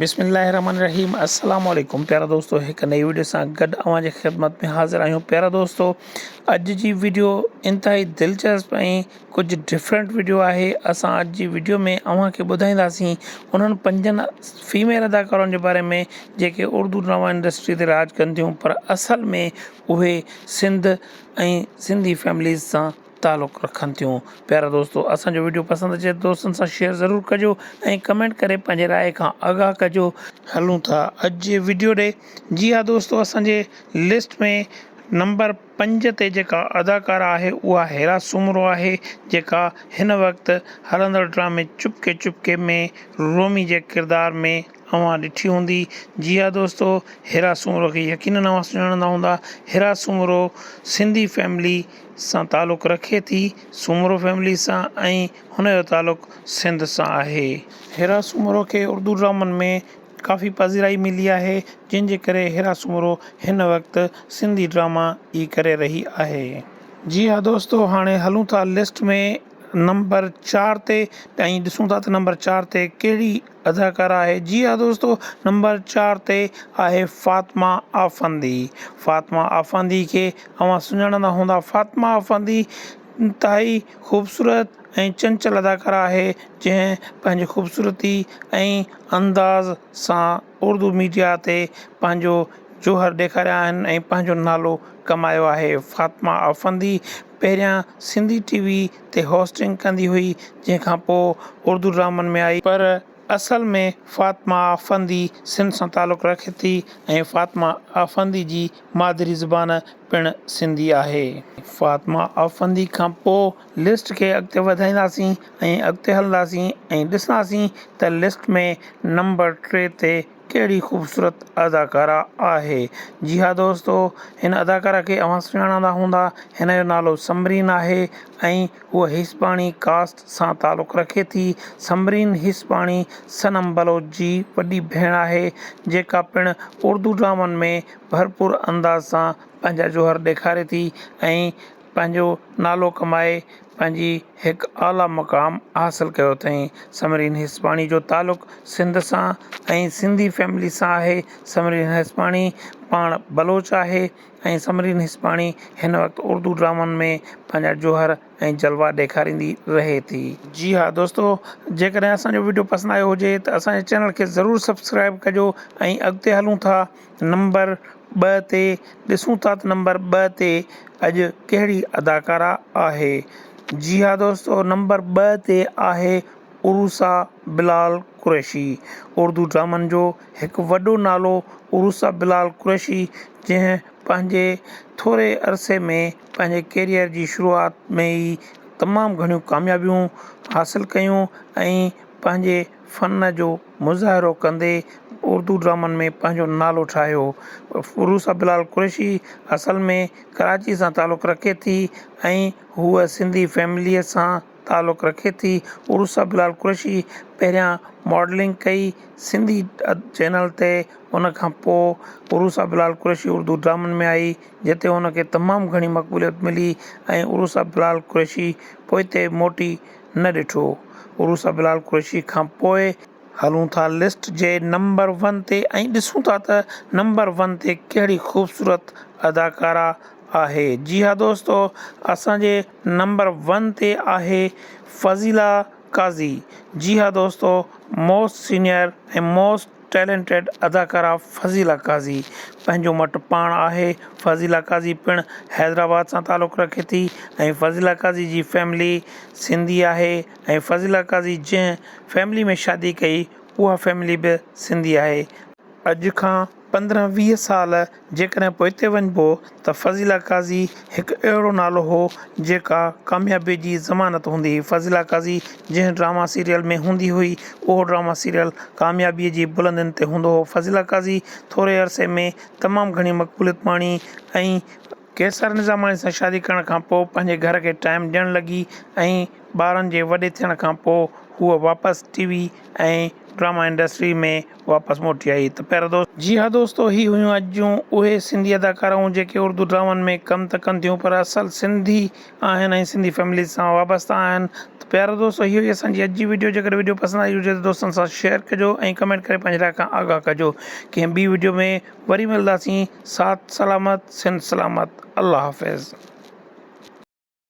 بسم الله الرحمن الرحيم السلام عليڪم پيارا دوستو هڪ نئي ويڊيو سان گڏ اوهان جي خدمت ۾ حاضر آهيون پيارا دوستو اڄ جي ويڊيو انتهائي دلچسپ ۽ ڪجهه ڊفرنٽ ويڊيو آهي اسان اڄ جي ويڊيو ۾ اوهان کي ٻڌائينداسين انهن پنجن فيميل اداڪارن جي باري ۾ جيڪي اردو ڊراما انڊسٽري تي راڄ ڪن ٿيون پر اصل ۾ اهي سنڌ ۽ سنڌي فيمليز سان تعلق رکن ٿيون پيارا دوستو اسان جو ويڊيو پسند اچي دوستن سان شيئر ضرور ڪجو ۽ ڪمينٽ ڪري پنهنجي راء کان آگاهه ڪجو هلون ٿا اڄ جي ويڊيو ڏي جي ها دوستو اسان جي لسٽ ۾ نمبر پنج تي جيڪا اداڪارا آهي اها هيرا سومرو آهي جيڪا هن وقت هلندڙ ڊرامي چپڪي چپڪي ۾ رومي جي ڪردار ۾ اوهان ڏٺي هوندي جي ها دوستو هيرا سومرو کي يقينن اوهان سڃاڻندا هوندا هيرا سومرو سنڌي فيملي سان تعلق رکي ٿي، سومرو فيملي سان ۽ هن جو تعلق سنڌ سان آهي. هيرا سومرو کي اردو ڊرامن ۾ ڪافي پذيرائي ملي آهي، جنهن جي ڪري هيرا سومرو هن وقت سنڌي ڊراما ئي ڪري رهي آهي. جي ها دوستو هاڻي هلون ٿا لسٽ ۾ نمبر چار تي ۽ ڏسون ٿا ته نمبر چار تي ڪهڙي اداڪاره آهي جي ها دوستو نمبر چار تي آهي فاطمه آفندي فاطمه آفندي کي اوهان سڃاڻندا هوندا فاطمه آفندي انتهائي خوبصورت ۽ چنچل اداڪاره آهي جنهن پنهنجي خوبصورتي ۽ انداز سان اردو ميڊيا تي پنهنجو جوهر ڏيکاريا آهن ۽ پنهنجو نالو ڪمايو آهي فاطمه آفندي پهريان سنڌي ٽي وي تي هوسٽنگ ڪندي هئي، جنهن کان پوء اردو ڊرامن ۾ آئي. پر اصل ۾ فاطمه آفندي سنڌ سان تعلق رکي ٿي ۽ فاطمه آفندي جي مادري زبان پڻ سنڌي آهي. فاطمه آفندي کان پوء لسٽ کي اڳتي وڌائينداسين ۽ اڳتي هلنداسين ۽ ڏسنداسين ته لسٽ ۾ نمبر ٽي تي ڪهڙي خوبصورت اداڪاره آهي جي ها دوستو هن اداڪاره کي اوهان سڃاڻندا هوندا هن جو نالو سمرين آهي ۽ هوء هيسپاڻي ڪاسٽ سان تعلق رکي ٿي سمرين هيسپاڻي صنم بلوچ جي وڏي ڀيڻ آهي جيڪا پڻ اردو ڊرامن ۾ ڀرپور انداز سان پنهنجا جوهر ڏيکاري ٿي ۽ پنهنجو نالو ڪمائي پنهنجي هڪ اعليٰ مقام حاصل ڪيو اٿائين. سمرين هيسپاڻي جو تعلق سنڌ سان ۽ سنڌي فيملي سان آهي. سمرين هيسپاڻي پاڻ بلوچ آهي ۽ سمرين هيسپاڻي هن وقت اردو ڊرامن ۾ پنهنجا جوهر ۽ جلوا ڏيکاريندي رهي ٿي. جي ها دوستو جيڪڏهن اسان جو وڊيو پسند آيو هجي ته اسان جي چينل کي ضرور سبسڪرائيب ڪجو ۽ اڳتي هلون ٿا. نمبر ٻه تي ڏسون ٿا ته نمبر ٻه تي اڄ ڪهڙي اداڪارا آهي جي ها دوستو نمبر ٻه تي آهي عروسا بلال قريشي اردو ڊرامن جو هڪ وڏو نالو عروسا بلال قريشي جنهن پنهنجي ٿوري عرصي ۾ پنهنجي ڪيريئر جي شروعات ۾ ئي تمام گهڻيون ڪاميابيون حاصل ڪيون ۽ پنهنجي فن جو مظاهرو ڪندي اردو ڊرامن ۾ پنهنجو نالو ٺاهيو. فيروز بلال قريشي اصل ۾ ڪراچي سان تعلق رکي ٿي ۽ هوء سنڌي فيمليء سان تعلق رکي ٿي. فيروز بلال قريشي پهريان ماڊلنگ ڪئي سنڌي چينل تي ان کان پوء فيروز بلال قريشي اردو ڊرامن ۾ آئي جتي هن کي تمام گهڻي مقبوليت ملي ۽ فيروز بلال قريشي پوئتي موٽي نه ڏٺو عروس بلال قريشي کان پوء هلون ٿا لسٽ جي نمبر ون تي ۽ ڏسون ٿا ته نمبر ون تي ڪهڙي خوبصورت اداڪارا آهي جي ها دوستو اسان جي نمبر ون تي آهي فضيلا قاضي جي ها دوستو موسٽ سينئر ۽ موسٽ ٽيلنٽيڊ اداڪارا فضيلا قاضي پنهنجو مٽ پاڻ آهي فضيلا قاضي پڻ حيدرآباد سان تعلق رکي ٿي ۽ فضيلا قاضي جي فيملي سنڌي آهي ۽ فضيلا قاضي جنهن فيملي ۾ شادي ڪئي اها فيملي به سنڌي آهي اڄ کان پندرهن ويهه سال جيڪڏهن پوئتي وڃبو ته فضيله قاضي هڪ اهڙو نالو هو جيڪا ڪاميابيء جي ضمانت هوندي هئي. فضيله قاضي جنهن ڊراما سيريل ۾ هوندي هئي، اهو ڊراما سيريل ڪاميابيء جي بلندين تي هوندو هو. فضيله قاضي ٿوري عرصي ۾ تمام گهڻي مقبوليت ماڻي ۽. قيصر نظاماڻي سان شادي ڪرڻ کان پوء پنهنجي گهر کي ٽائيم ڏيڻ لڳي ۽ ٻارن جي وڏي ٿيڻ کان پوء هوء واپس ٽي وي ۽ ڊراما انڊسٽريء ۾. واپس موٽي آئي ته پيارا دوست. جي ها دوستو هي هيون اڄ جون اهي سنڌي اداڪارائون جيڪي اردو ڊرامن ۾ ڪم ته ڪن ٿيون پر اصل سنڌي آهن ۽ سنڌي فيمليز سان وابسته آهن ته پيارا دوستو هي هئي اسان جي اڄ جي وڊيو جيڪڏهن وڊيو پسند آئي هجي ته دوستن سان شيئر ڪجو ۽ ڪمينٽ ڪري پنهنجي راء کان آگاهه ڪجو ڪنهن ٻي وڊيو ۾ وري ملداسين ساٿ سلامت سنڌ سلامت الله حافظ.